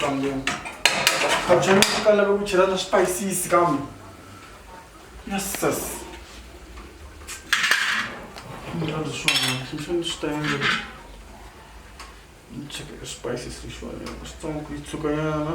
kambe khabuchani swi ka lava ku chela na swipayisisi kambe yesus mirhandza swona xinxani swi ta endla ni cheka e swipayisisi leswiwanyana switsongo ku yi tsukanyana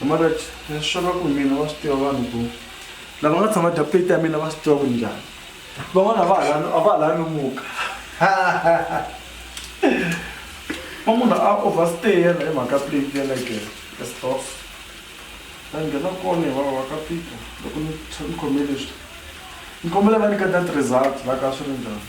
Comrade, leswi swo ka ku mina va swi tiva vanhu ku lava nga tshama dya plate ya mina va swi tiva ku njhani van'wana a va ha lani a va ha lani muka va munhu a overstay yena hi mhaka plate ya like estof va nghena kona hi vava ka fika loko ni ni khome leswi ni kombela va nyika that result la ka swi ri njhani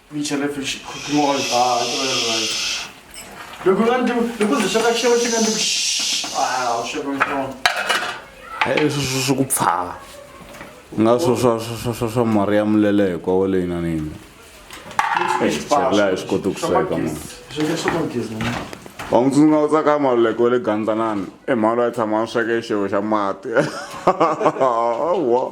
Michelefi xikhokhimoyo ba right. Loko nga ndi loko ndzi sweka xixevo xi nga ndi ah u sweka xixevo. Eh swi swi ku pfala. Nga swo swa swa swa swa mari ya mulele hi kwa wale ina nini. Chela hi swi kota ku sweka mani. Swi swi ku gezi mani. Wa n'wi tsundzuka u tsaka maluleko wa le gandlanani i mhani loyi a tshama a sweka xixevo xa mati. Wa.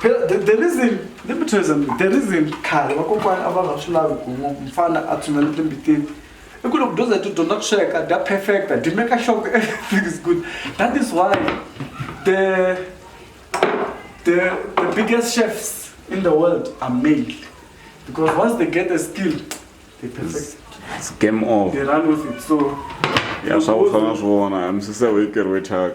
phela the, the reason let me tell you something the reason khale vakokwana a va nga swi lavi ku mfana a tshunela timbitini i ku loko dyondza hi tidyondza ku sweka dya perfecta dyi make sure ku everything is good that is why the the the biggest chefs in the world are male because once they get a skill they perfect it's game over they run with it so ya swa ku fana swona misise weekeri wethaka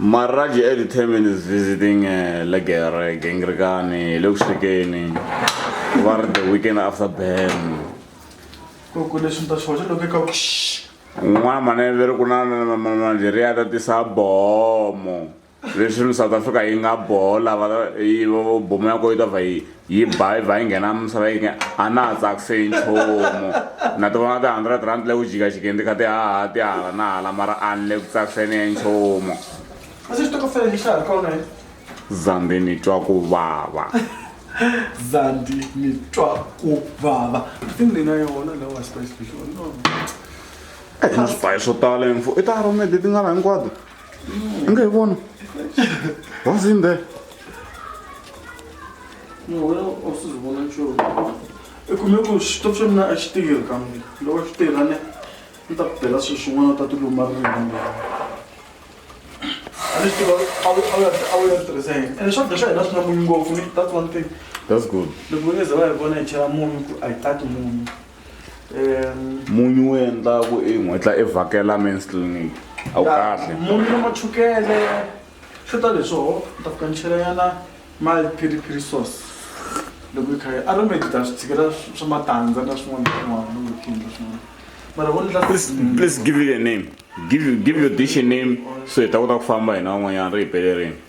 Marraji Eddie Temin is visiting uh, Legere, Gengrikani, Luxikeni, over the weekend after Ben. N'wana maneveri ku na Nigeria ta tisa bomo leswi ni South Africa yi nga bola yi bomo ya ko yi ta va yi yi ba yi ba yi nghena misava yi nge a na ha tsakise yi nchumu na ti vona ti-hundred rand leyi u jikajikeni ti kha ti haha ti hala na hala mara a ni le ku tsakiseni ya nchumu zandi ni twa ku vava zandi ni twa ku vava i ni na yona lawa spice fish no eh, na swipayi swo tala info i ta aromede ti nga la hinkwato I nga yi vona. What's in there? No, wena u swi vona nchumu. I kume ku xitofu xa mina a xi tirhi kambe loko xi tirha ne ni ta ku bela swilo swin'wana u ta ti luma ririmi. A ni swi tiva a wu a wu ya a wu ya tirhisa yini. Ene swakudya swa hina swi na munyu ngopfu ni that's one thing. That's good. Loko va nge ze va hi vona hi chela munyu ku a hi tati munyu. munyu wu endlaku i n'wetla i vhakela mens clinic a wu kahle munyu na machukele swi ta leswoho ni ta fika ni chelayana mali phiriphiri sauce loko yi kha yi aromedi ta swi tshikela swa matandza na swin'wana swin'wana loko yi khindla swin'wana mara vo ni la please please give it a name give you give your dish a name so hi ta kota ku famba hina van'wanyana ri hi pelerini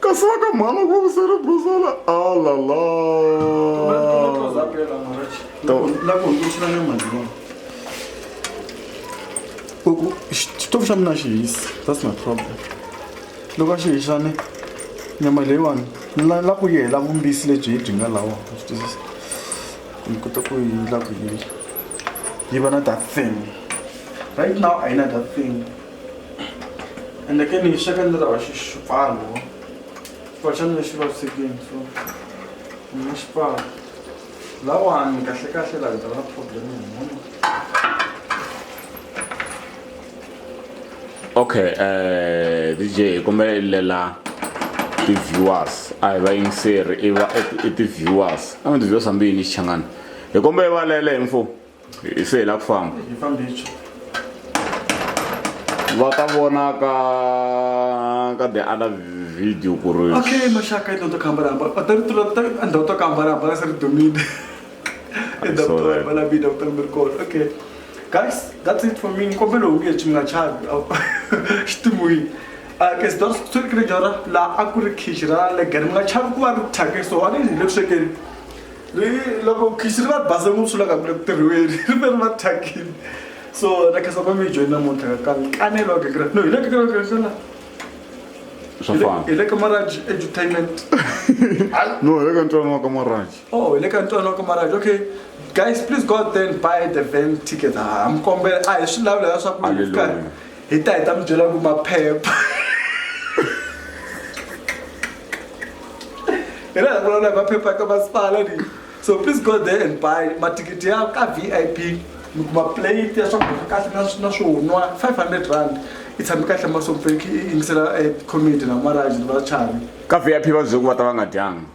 Kasaka mhana ku vusela buzala alala xitofu xa mina xi hisi that's my problem loko a xi hixane nyama leyiwani la ku yi hela vumbisi lebyi hi byi nga lawa swi twisisa ni kota ku yi la ku yi yi va na that thing right now a yi na that thing ende ke ni xaka ndzi lava xipfalo xipfalo xa mina xi vavisekini so ni nga xipfalo lawani kahle kahle laha ndzi va na problem hi munhu okay eh dj hi kombelelela ti-viewers a hi vayingiseri i va i ti-viewers a mi ti-viewers hambi yini xichangani hi kombele valele hi mfumo hi se hi la ku famba hi fambicho va ta vona ka ka the other video ku ri okay maxaka i ndoto kamba ramba a ta ri tula ta a ndoto kamba ramba ka se ri domine i doctor va la bi doctor mi ri kona okay guys that's it for me ni kombela u nge chi mi nga chavi xitimuyini ke swi dora swi ri jora laha a ku ri khichi ra legere mi nga chavi ku va ri thyake so a ni hi le ku swekeni ri loko khixi ri va base ngopfu swi laka ku ri tirhiweni ri ve ri va thyakile so na khasa va mi joyina muntlha ka kanelo wa kekereke no hi le kekereke ya xana swa fana hi le ka maraj entertainment no hi le ka ntwana wa ka maraj oh hi le ka ntwana wa ka maraj okay guys please go out there and buy the van ticket ha mi kombela a hi swi lavula ya swa ku hi ta hi ta mi byela ku maphepha hi laha vulavula hi maphepha ka masipala ni so please go there and buy mathikithi ya ka v i p mi kuma plate ya swakudya kahle na na swo nwa five hundred rand i tshame kahle masompfeki i yingisela eh, comedy na maraji ni vachavi ka vip va byele ku va ta va nga dyanga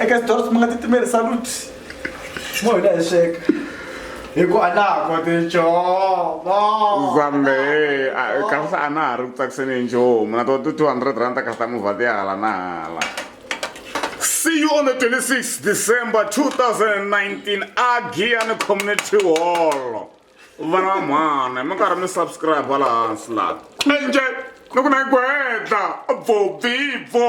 eka xidoro swi mi nga titimeli saluti mo hina hi sweka hi ku a na ha koti ncomo zambe kasi a na ha ri ku tsakiseni hi nchumu na to ti 200 rand ta kasi ta movha ti ya hala na hala see you on the 26 december 2019 agian community hall vana va mhana mi karhi mi subscribe va laha hansi laha enje ni ku na yi gwedla bvo bibvo